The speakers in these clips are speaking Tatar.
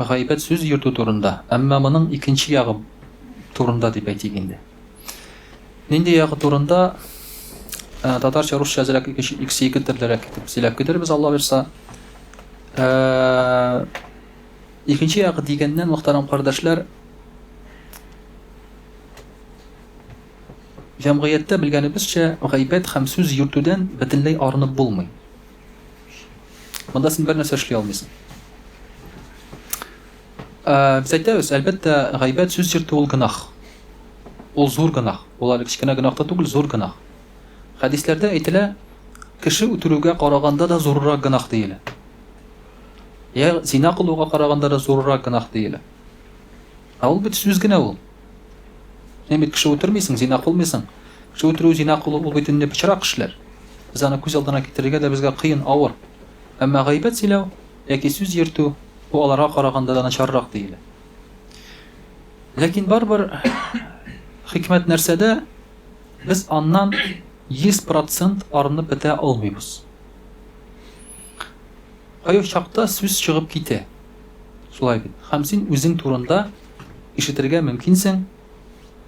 Гайбәт сүз йөртү турында, әмма моның икенче ягы турында дип әйтик инде. Нинди ягы турында? Ә, татарча, русча әзрәк икенче икесе ике төрлерәк итеп сөйләп китербез, Алла бирса. Ә, икенче ягы дигәннән, мөхтәрәм кардәшләр, җәмгыятьтә белгәнебезчә, гайбәт һәм сүз йөртүдән бөтенләй арынып булмый. Монда син бернәрсә эшли алмыйсың. Ә, без әйтәбез, әлбәттә, гайбәт сүз йөртү ул гынах. Ул зур гынах. Ул әле кечкенә гынах та түгел, зур гынах. Хәдисләрдә әйтелә, кеше үтерүгә караганда да зуррак гынах диелә. Я зина кылуга караганда да зуррак гынах диелә. Ә ул бит сүз генә ул. Син бит кеше үтермисең, зина кылмыйсың. Кеше үтерү, зина кылу ул бит инде пычрак эшләр. Без аны күз алдына китерергә дә безгә кыен, авыр. Әмма гайбәт сөйләү яки сүз йөртү, бу аларга караганда да начаррак диелә. Ләкин барыбер хикмәт нәрсәдә, без аннан 100 процент арынып бетә алмыйбыз. Кайбер чакта сүз чыгып китә. Шулай бит. Һәм син үзең турында ишетергә мөмкинсең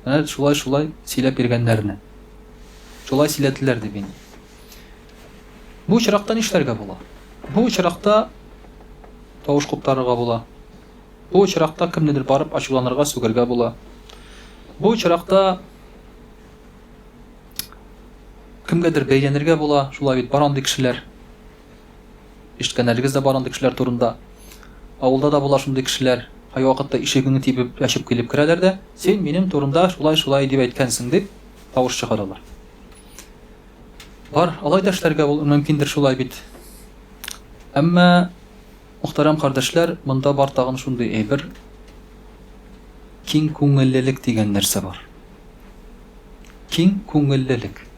менә шулай-шулай сөйләп йөргәннәрне. Шулай сөйләделәр дип инде. Бу очракта нишләргә була? Бу очракта тавыш куптарырга була. Бу очракта кемнедер барып ачуланырга, сүгергә була. Бу очракта кемгәдер бәйләнергә була, шулай бит, бар андый кешеләр. Ишеткәннәрегез дә бар андый кешеләр турында. Авылда да була шундый кешеләр. Кайвакытта ишегеңне тибеп, ачып килеп керәләр дә, Син минем турында шулай-шулай дип әйткәнсең, дип тавыш чыгаралар. Бар, алай да эшләргә бул, мөмкиндер шулай бит. Әмма, мөхтәрәм кардәшләр, монда бар тагын шундый әйбер, киң күңеллелек дигән нәрсә бар. Киң күңеллелек.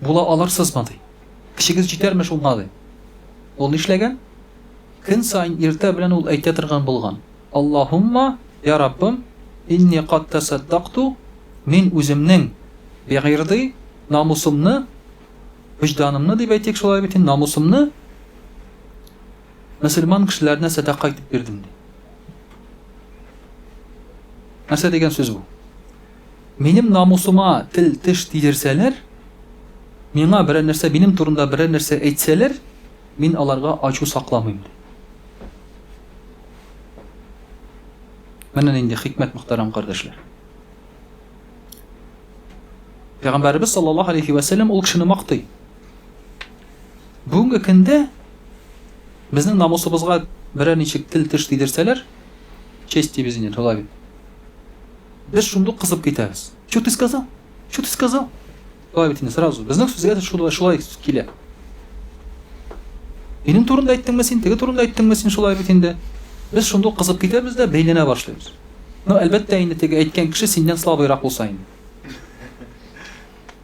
була алырсызмы, ди. Көчегез җитәрме шуңа, ди. Ул нишләгән? Көн саен иртә белән ул әйтә торган булган. Аллаһумма, я Раббым, инни кад тәсәддакту, мин үземнең бигырди, намусымны, вөҗданымны дип әйтик шулай бит, намусымны мөселман кешеләренә сәдака итеп бирдем, ди. Нәрсә дигән сүз бу? Минем намусыма тел-теш тидерсәләр, миңа берәр нәрсә, минем турында берәр нәрсә әйтсәләр, мин аларга ачу сакламыйм, ди. Менә нинди хикмәт, мөхтәрәм кардәшләр. Пәйгамбәребез саллаллаһу алейхи вә сәлләм ул кешене мактый. Бүгенге көндә безнең намусыбызга берәр ничек тел-теш тидерсәләр, честибез инде, шулай бит. Без шундук кызып китәбез. Чу ты сказал? Чу ты сказал? Шулай бит инде сразу. Безнең сүзгә дә шулай, шулай килә. Минем турында әйттеңме син, теге турында әйттеңме син шулай бит инде. Без шундук кызып китәбез дә бәйләнә башлыйбыз. Ну, әлбәттә, инде теге әйткән кеше синнән слабыйрак булса инде.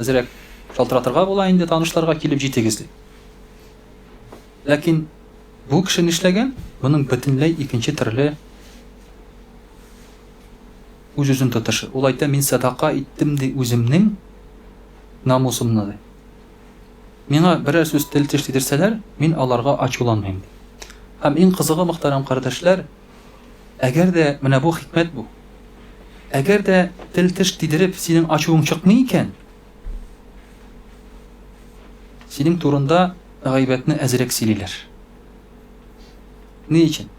Әзрәк шалтыратырга була инде, танышларга килеп җитегез, дип. Ләкин бу кеше нишләгән? Моның бөтенләй икенче төрле үз-үзен тотышы. Ул әйтә, мин сәдака иттем, ди, үземнең намусымны, ди. Миңа берәр сүз тел-теш тидерсәләр, мин аларга ачуланмыйм, ди. Һәм иң кызыгы, мөхтәрәм кардәшләр, Әгәр дә, менә бу хикмәт бу. Әгәр дә тел-теш тидереп синең ачуың чыкмый икән, синең турында гайбәтне әзрәк сөйлиләр. Ни өчен?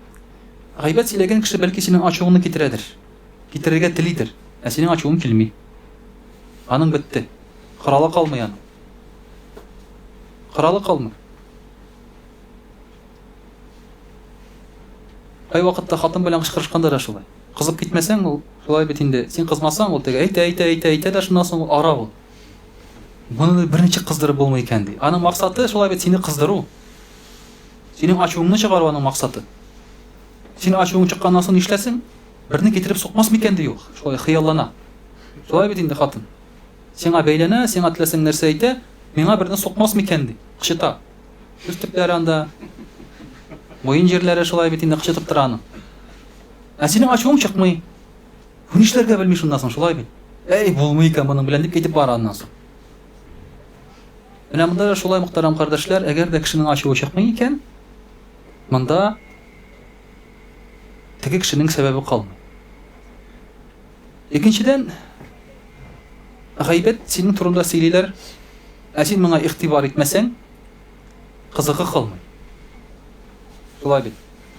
Гайбәт сөйләгән кеше бәлки синең ачуыңны китерәдер. Китерергә телидер, ә синең ачуың килми. Аның бетте. Коралы калмый аның. Коралы калмый. Кайвакытта хатын белән кычкырышканда да шулай. Кызып китмәсәң, ул шулай бит инде. Син кызмасаң, ул теге әйтә, әйтә, әйтә, әйтә дә шуннан соң ул ара ул. Моны берничек кыздырып булмый икән ди. Аның максаты шулай бит сине кыздыру. Синең ачуыңны чыгару аның максаты. Син ачуың чыкканнан соң нишләсен? Берне китереп сукмас микән ди ул. Шулай хыяллана. Шулай бит инде хатын. Сиңа бәйләнә, сиңа теләсәң нәрсә әйтә, миңа берне сукмас микән ди. Кычыта. Үз төпләре анда. Муен җирләре шулай бит инде кычытып тора аны. Ә синең ачуың чыкмый. Бу нишләргә белми шуннан соң, шулай бит. Әй, булмый икән моның белән дип әйтеп бара аннан соң. Менә монда да шулай мөхтәрәм кардәшләр, әгәр дә кешенең ачуы чыкмый икән, монда теге кешенең сәбәбе калмый. Икенчедән, гайбәт синең турында сөйлиләр, Ә син моңа игътибар итмәсәң, кызыгы калмый. Шулай бит.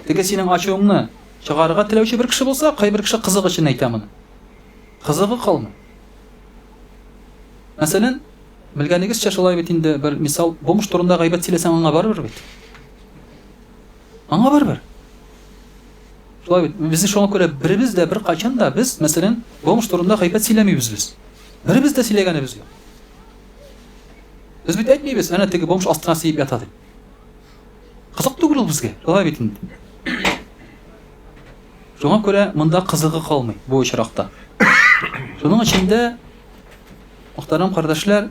Теге синең ачуыңны чыгарырга теләүче бер кеше булса, кайбер кеше кызык өчен әйтә моны. Кызыгы калмый. Мәсәлән, белгәнегезчә шулай бит инде бер мисал, бомж турында гайбәт сөйләсәң аңа барыбер бит. Аңа барыбер. Шулай бит. Без шуңа күрә беребез дә бер качан да без, мәсәлән, бомж турында гайбәт сөйләмибез без. Беребез дә сөйләгәнебез юк. Без бит әйтмибез, әнә теге бомж астына сиеп ята дип. Кызык түгел ул безгә. Алай бит инде. Шуңа күрә монда кызыгы калмый бу очракта. Шуның өчен дә мөхтәрәм кардәшләр,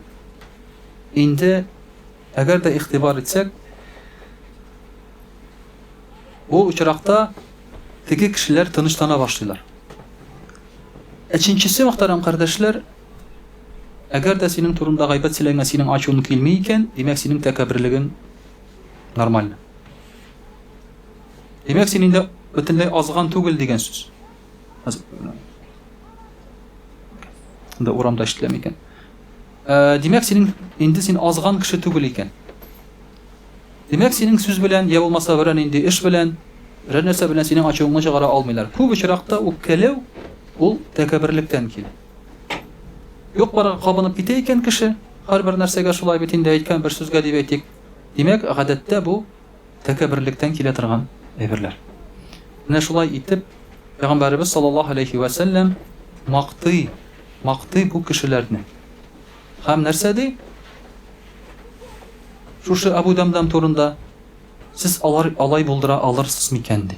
инде әгәр дә ихтибар итсәк, бу очракта теге кешеләр тынычлана башлыйлар. Өченчесе, мөхтәрәм кардәшләр, Әгәр дә синең турында гайбәт сөйләнгән синең ачуың килми икән, димәк синең тәкәбберлегең нормаль. Димәк син инде бөтенләй азган түгел дигән сүз. Инде урамда ишетеләме икән? Э, димәк синең инде син азган кеше түгел икән. Димәк синең сүз белән я булмаса берәр нинди эш белән, берәр нәрсә белән синең ачуыңны чыгара алмыйлар. Күп очракта үпкәләү ул тәкәбберлектән килә. Юк-барга кабынып китә икән кеше, һәрбер нәрсәгә шулай бит инде, әйткән бер сүзгә дип әйтик. Димәк, гадәттә бу тәкәбберлектән килә торган әйберләр. Менә шулай итеп, Пәйгамбәребез саллаллаһу алейһи вә сәлләм мактый, мактый бу кешеләрне. Һәм нәрсә ди? Шушы Абу Дамдам турында, Сез алар алай булдыра алырсыз микән ди.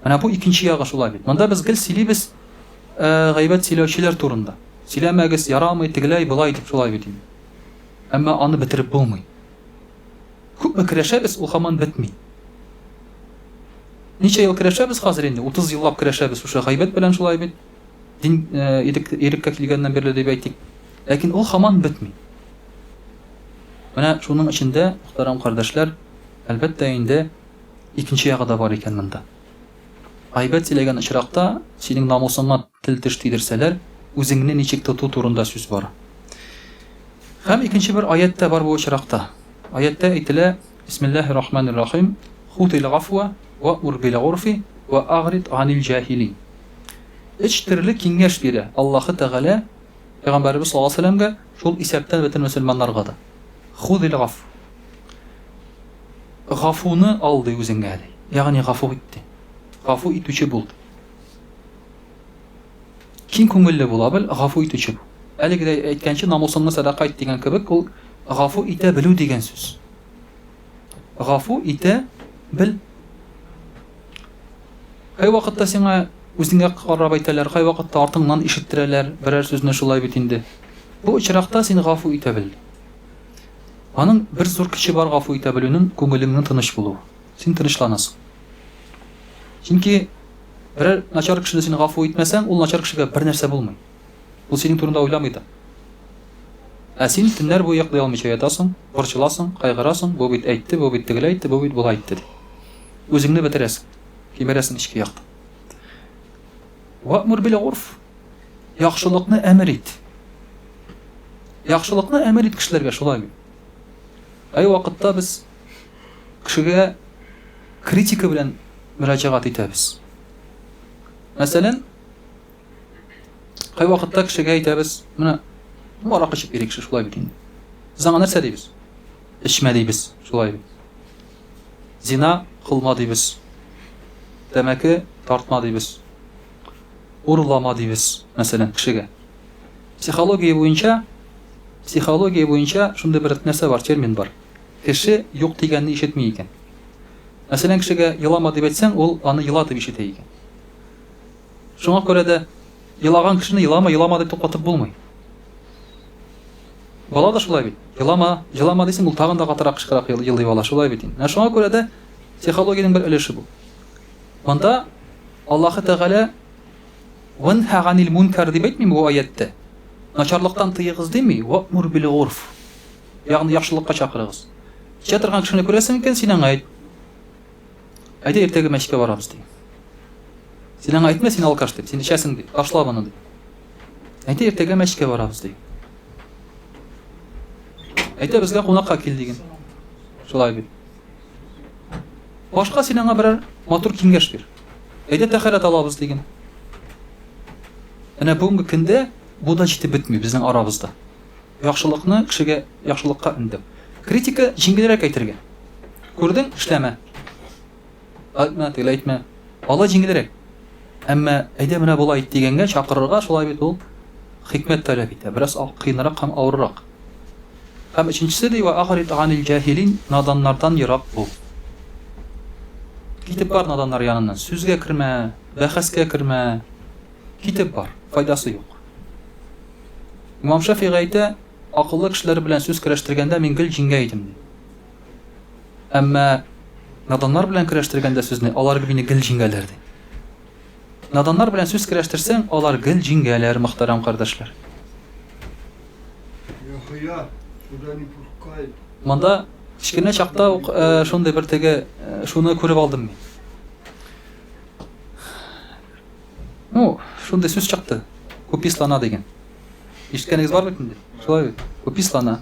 Менә бу икенче ягы шулай бит. Монда без гел сөйлибез э, гайбәт сөйләүчеләр турында. Сөйләмәгез, ярамый, тегеләй, былай дип шулай бит инде. Әмма аны бетереп булмый. Күпме керәшәбез, ул хаман бетми. Ничә ел керәшәбез хәзер инде? 30 еллап керәшәбез шушы гайбәт белән шулай бит. Дин э, ирек, иреккә килгәннән бирле дип әйтик. Ләкин ул хаман бетми. Менә шуның эчендә, мөхтәрәм кардәшләр, әлбәттә инде Икенче ягы да бар икән монда. Гайбәт сөйләгән очракта, синең намусыңа тел-теш тидерсәләр, үзеңне ничек тоту турында сүз бара. Һәм икенче бер аять тә бар бу очракта. Аятьтә әйтелә, Бисмиллаһи рахманир рахим, Худил гафва вә ур бил горфи вә агрид ганил җахилин. Өч төрле киңәш бирә Аллаһы Тәгалә Пәйгамбәребез саллаллаһу галәйһи вә сәлләмгә, шул исәптән бөтен мөселманнарга да. Худил гаф. Гафуны ал, ди, үзеңә, ди. Ягъни гафу ит, ди. Гафу итүче бул, ди. Киң күңелле була бел, гафу итүче бул. Әлеге дә әйткәнче, намусыңны сәдака ит дигән кебек, ул гафу итә белү дигән сүз. Гафу итә бел. Кайвакытта сиңа үзеңә карап әйтәләр, кайвакытта артыңнан ишеттерәләр берәр сүзне шулай бит инде. Бу очракта син гафу итә бел. Аның бер зур көче бар гафу итә белүнең күңелеңнең тыныч булуы. Син тынычланасың. Чөнки берәр начар кешене син гафу итмәсәң, ул начар кешегә бернәрсә булмый. Ул синең турында уйламый да. Ә син төннәр буе йоклый алмыйча ятасың, борчыласың, кайгырасың, бу бит әйтте, бу бит тегеләй әйтте, бу бит болай әйтте дип. Үзеңне бетерәсең, кимерәсең эчке яктан. Вә'мүр бил-горф. Яхшылыкны әмер ит. Яхшылыкны әмер ит кешеләргә, шулай бит. Ай вакытта без кешегә критика белән мөрәҗәгать итәбез. Мәсәлән, кай вакытта кешегә әйтәбез, менә марак эчеп йөри кеше, шулай бит инде. Без аңа нәрсә дибез? Эчмә дибез, шулай бит. Зина кылма дибез. Тәмәке тартма дибез. Урлама дибез, мәсәлән, кешегә. Психология буенча, психология буенча шундый бер нәрсә бар, термин бар. Кеше юк дигәнне ишетми икән. Мәсәлән, кешегә елама дип әйтсәң, ул аны ела дип ишетә икән. Шуңа күрә дә елаган кешене елама, елама дип туктатып булмый. Бала да шулай бит. Елама, елама дисең, ул тагын да катырак кычкырак елый бала, шулай бит инде. Ә шуңа күрә дә психологиянең бер өлеше бу. Монда Аллаһы Тәгалә Ванха ганил мункар дип әйтмим бу аятьтә. Начарлыктан тыегыз дими, вамур бил гурф. Ягъни яхшылыкка чакырыгыз. Кичә торган кешене күрәсең икән, син аңа әйт. Әйдә иртәгә мәчеткә барабыз ди. Син аңа әйтмә, син алкаш дип, син эчәсең ди. Ташла моны ди. Әйдә иртәгә мәчеткә барабыз ди. Әйдә безгә кунакка кил диген. Шулай бит. Башка син аңа берәр матур киңәш бир. Әйдә тәхәрәт алабыз диген. Менә бүгенге көндә бу да җитеп бетми безнең арабызда. Яхшылыкны кешегә яхшылыкка өндәп. Критика җиңелрәк әйтергә. Күрдең, эшләмә. Әйтмә, тегеләй әйтмә. Алай җиңелрәк. Әмма әйдә менә болай ит дигәнгә чакырырга шулай бит ул хикмәт таләп итә. Бераз кыенрак һәм авыррак. Һәм өченчесе, ди, Вә а'рид ганил җаһилин, наданнардан ерак бул. Китеп бар наданнар яныннан, сүзгә кермә, бәхәскә кермә. Китеп бар, файдасы юк. Имам Шәфигый әйтә, акыллы кешеләр белән сүз көрәштергәндә мин гел җиңгән идем, ди. Әмма наданнар белән көрәштергәндә сүзне, алар мине гел җиңәләр, ди. Наданнар белән сүз керәштерсәң, алар гел җиңгәләр, мөхтәрәм кардәшләр. Монда кечкенә чакта ук шундый бер теге шуны күреп алдым мин. Ну, шундый сүз чыкты. Купислана дигән. Ишеткәнегез бар бит инде. Шулай бит. Купислана.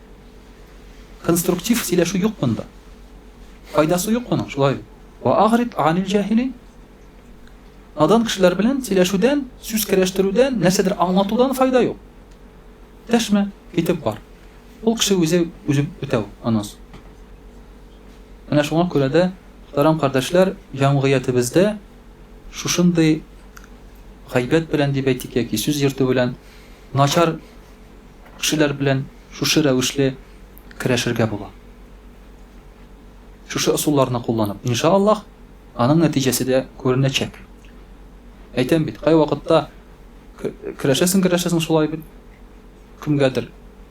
Конструктив сөйләшү юк монда. Файдасы юк моның, шулай бит. Ва агрид анил җахилин. Надан кешеләр белән сөйләшүдән, сүз керәштерүдән, нәрсәдер аңлатудан файда юк. Дәшмә, китеп бар. Ул кеше үзе үзе бетәү, анос. Менә шуңа күрә дә, мөхтәрәм кардәшләр, җәмгыятебездә шушындый гайбәт белән дип әйтик яки сүз йөртү белән начар Кешеләр белән шушы рәвешле көрәшергә була. Шушы ысулларны кулланып, инша Аллаһ, аның нәтиҗәсе дә күренәчәк. Әйтәм бит, кайвакытта көрәшәсең, көрәшәсең шулай бит. Кемгәдер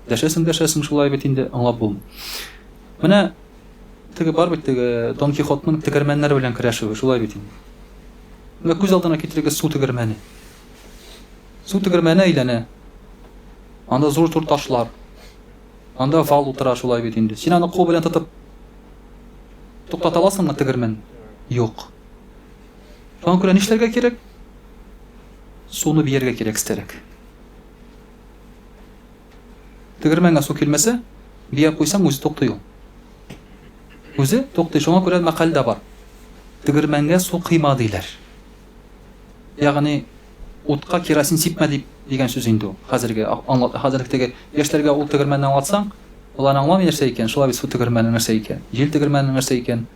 дәшәсең, дәшәсең шулай бит инде, аңлап булмый. Менә теге бар бит теге Дон Кихотның тегермәннәр белән көрәшүе, шулай бит инде. Менә күз алдына китерегез су тегермәне. Су тегермәне әйләнә. Анда зур-зур ташлар. Анда вал утыра шулай бит инде. Син аны кул белән тотып туктата аласыңмы тегермән? Юк. Шуңа күрә нишләргә кирәк? Суны биергә кирәк истәрәк. Тегермәнгә су килмәсә, бия куйсаң үзе туктый ул. Үзе туктый, шуңа күрә мәкаль дә бар. Тегермәнгә су кыйма диләр. Ягъни утка керосин сипмә дип дигән сүз инде ул. Хәзерге аңлат, хәзерге теге яшьләргә ул тегермәнне аңлатсаң, алар аңламый нәрсә икән, шулай бит су тегермәне нәрсә икән, җил тегермәне нәрсә икән.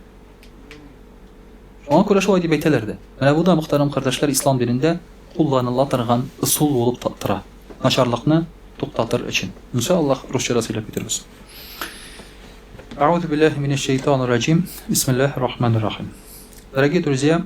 Шуңа күрә шулай дип әйтәләр дә. Менә бу да, мөхтәрәм кардәшләр, ислам динендә кулланыла торган ысул булып тора. Начарлыкны туктатыр өчен. Инша Аллаһ, русча да сөйләп китербез. Аузу биллахи минәш шәйтанир раҗим. Бисмиллахир рахманир рахим. Дорогие друзья,